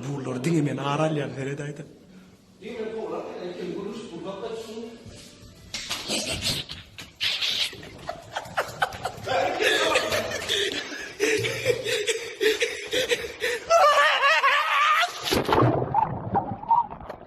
Bular diňe men aralýan seret aýdan.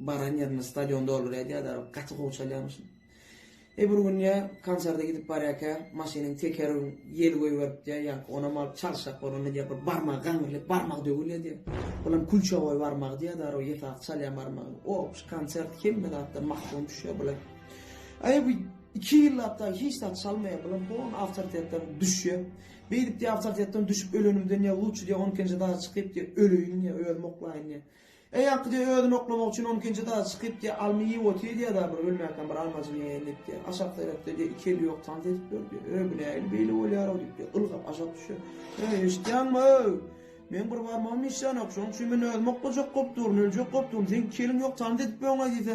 Baran ýerinde stadion doldurýardy ýa-da gaty gowy çalýarmyşyn. E bir gün ýa konserde gidip barýarka maşynyň tekeri ýel goýberipdi ýa ýaňky onam alyp çalyşjak bolandy diýýär bir barmagy gaňyrlyp barmagy döwülýär diýýär. Bulam kulçagoý barmagy diýýär ýa-da o ýesasy çalýan barmagy. Op şu konsert hemme zatdan mahrum düşýär bula. Aý bu iki ýyllap dagy hiç zat çalmaýar bulam hon awtoritetden düşýär. Beýdip diýýär awtoritetden düşüp ölenimden ýa luçy diýýär on ikinji daga çykyp diýýär öleýin diýýär özüm oklaýyn diýýär. Eý ýaňky diýýär, özüni oklamak üçin on ikinji etaja çykyp diýýär, alma iýip otyr diýýär daa bir ölmäkäm bir almajyk iýeýin diýip diýýär. Aşak seretde diýýär, iki eli ýok tans edip ýör diýýär. Öý bu nähili beýle bolýar-ow diýip diýýär, ylgap aşak düşýär. Öý eşitýäňmi-öý! Meň bir barmagym işlänok, şonuň üçin men özümi oklajak bolup durun, öljek bolup durun, seň iki eliň ýok tans edip ýöň-aý diýse,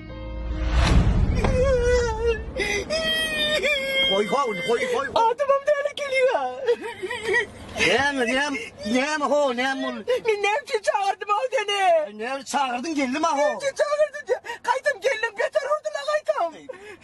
Goý goý ony goý goý. Adamam däli gelýä. Näme näme näme ho näme ol. Men näme üçin çagyrdym ho seni? Näme çagyrdyň geldim aho. Näme üçin çagyrdyň? Gaýtam geldim beter urdyna gaýtam.